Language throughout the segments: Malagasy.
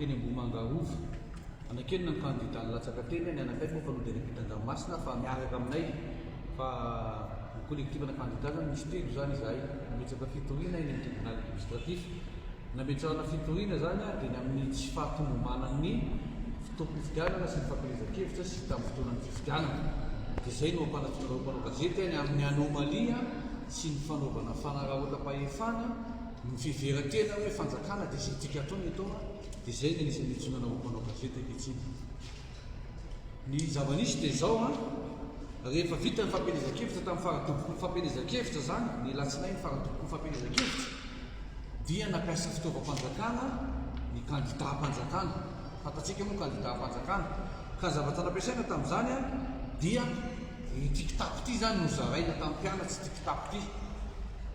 teny Ambohimanga Rova. Anakianina ny kandida nilatsaka teny, ny anakay moa efa noderebitan dranomasina fa miaraka aminay fa ny collectif ana kandida zany misy telo zany izahay nametraka fitoriana eny amin'ny tribunal administratif. Nametrahana fitoriana zany dia ny amin'ny tsy fahatomombanan'ny fotoam-pifidianana sy ny fampielezan-kevitra sy tamin'ny fotoanan'ny fifidianana. Dia izay no ampanatonanareo mpanao gazety ny amin'ny anomalie sy ny fanaovana fanararaotam-pahefana Ny fiheveran-tena hoe fanjakana dia izay tiaka atao ny atao an, dia izay ny anisan'ny iantsoana anao mpanao gazety ankehitriny. Ny zava-nisy dia izao an, rehefa vita ny fampielezan-kevitra tamin'ny faradoboko ny fampielezan-kevitra izany, ny alatsinainy faradoboko ny fampielezan-kevitra, dia nampiasa fitaovam-panjakana ny kandidaam-panjakana. Fantatsika moa kandidàm-panjakana, ka ny zavatra nampiasaina tamin'izany dia ity kitapo ity izany no zaraina tamin'ny mpianatra, ity kitapo ity.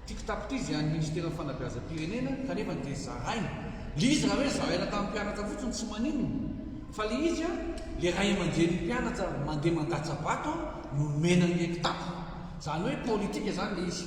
Ity kitapo ity izay an'ny Ministeran'ny Fanabeazam-pirenena kanefa dia zaraina. Ilay izy raha hoe zaraina tamin'ny mpianatra fotsiny tsy maninona, fa ilay izy, ilay ray aman-drenin'ny mpianatra mandeha mandatsa-bato no nomena an'ilay kitapo. Izany hoe politika izany ilay izy.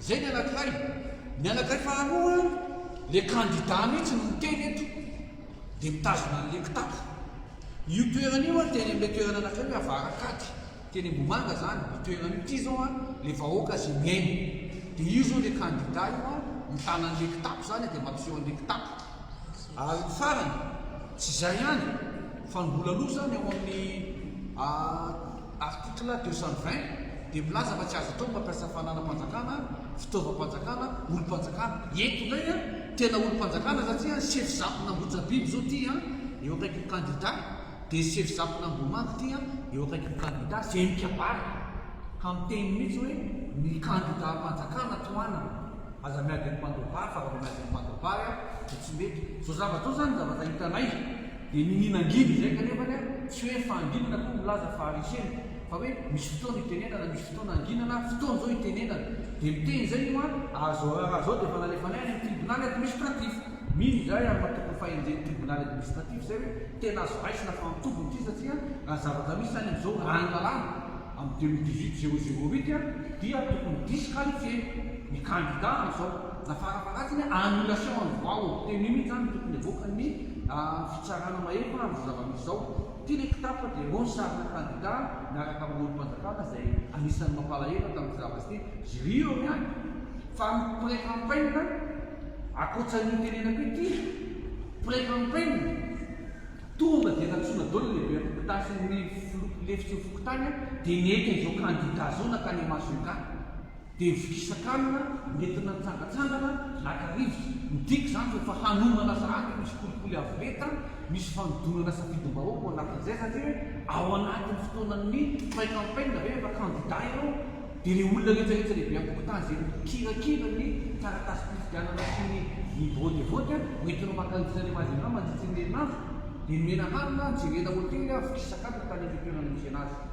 Zay ny anankiray, ny anankiray faharoa le kandida mihitsy no miteny eto dia mitazona an'le kitapo. Io toerana io an teny amin'le toerana anankiray hoe avarankady teny Ambohimanga zany io toerana io, ity zao an le vahoaka ze miaina dia io zao le kandida io an mitana an'le kitapo zany dia mampiseho an'le kitapo. Ary ny farany, tsy zay ihany fa ny mbola aloha zany ao amin'ny. Article deux cent vingt dia milaza fa tsy azo atao ny mampiasa fananam-panjakana, fitaovam-panjakana, olom-panjakana. Eto indray an, tena olom-panjakana satria an, sefo Zafin'Ambohijabilo izao ity an, eo akaikin'ny kandida, dia sefo Zafin'Ambohimanga ity an, eo akaikin'ny kandida, izay mikabary ka miteny mihitsy hoe ny kandidam-panjakana tohanana. Aza miady amin'ny mpandroba fa raha vao miady amin'ny mpandroba an, dia tsy mety. Izao zavatra izao izany ny zavatra hitanay. Dia ny mihinangidy izay kanefany a, tsy hoe fahanginana akory milaza fa haresena, fa hoe misy fotoana itenenana, misy fotoana hanginana, fotoana izao itenenana. Dia miteny izay io a, ary izao raharaha izao dia efa nalefanay any amin'ny tribonaly administratif. Mino izahay ary matoky ny fahenjen'ny tribonaly administratif izay hoe tena azo raisina fa antombony ity satria raha ny zavatra misy any amin'izao raha ny lalàna amin'ny deux mille dix-huit zéro zéro huit dia tokony disqualifier ny kandida amin'izao Zafara Maraty ny annulation any vao teny io mihitsy zany no tokony havoaka ny fitsarana mahery fa amzao zavamisy zao ty le kitapo de roa ny sarina kandida miaraka am olompanjakana izay anisany mampalahelo tamty zavamisy ty jry eo ihany fa ny près campaign akoatsanio notenenako io ty près campaign tonga de nantsoina daoly ny lehibe fokontany sy ny filoha lefitsin'ny fokontany de nety anzao kandida zao nankany masongà. Dia ny fikisakalina nentina nitsangantsangana naka rivotra. Midika izany rehefa hanomana zahady misy kolikoly avo lenta, misy fanodinana safidim-bahoaka ao anatin'izay satria hoe ao anatin'ny fotoanan'ny pré campaign ve rehefa kandida ianao dia ilay olona rehetrarehetra lehibe an-tokotany izay mikirakira ny taratasim-pifidianana sy ny ny vote-vote a, hoentinao maka rivotra any Majunga mandritry ny herinandro dia nomena hanina, jerena hotely, fikisakalina tany amin'ny toerana niaviana azy.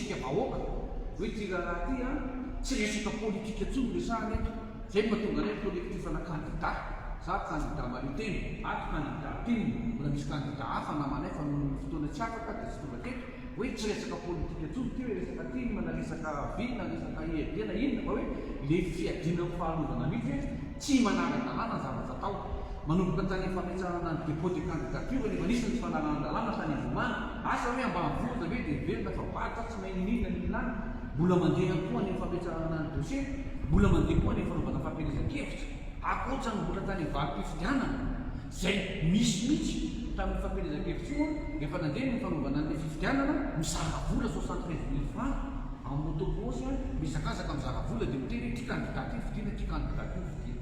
Isika vahoaka no ity raharaha ity an! Tsy resaka politika intsony no resahana eto! Zay no mahatonga anay collectif ana kandida! Za kandida mahaleo tena! Ato kandida tim! Mbola misy kandida hafa namanay fa nohon'ny fotoana tsy afaka dia tsy tonga teto! Hoe tsy resaka politika intsony ity hoe resaka tim na resaka vy na resaka IED na inona fa hoe le fiadiana amin'ny fahalovanan'ny fe! Tsy manara-dalàna ny zavatra atao. Manomboka tany amin'ny fametrahana ny dépôt de candidature ny efa nisy ny tsy fanarahan-dalàna tany Ivomana. Asa hoe ambanivohitra ve dia velona fa varotra tsy mahay n'inon'inona ny olona any? Mbola mandeha ihany koa any amin'ny fametrahana ny dossier? Mbola mandeha koa any amin'ny fanaovana fampielezan-kevitra? Ankoatra ny mbola tany amin'ny valim-pifidianana? Izay nisy mihitsy tamin'io fampielezan-kevitra io rehefa nandeha ny fanaovana an'ilay fifidianana, mizara vola soixante treize mille francs en moto cross, mihazakazaka mizara vola dia miteny hoe ity kandida ity vidina, ity kandida ity vidina.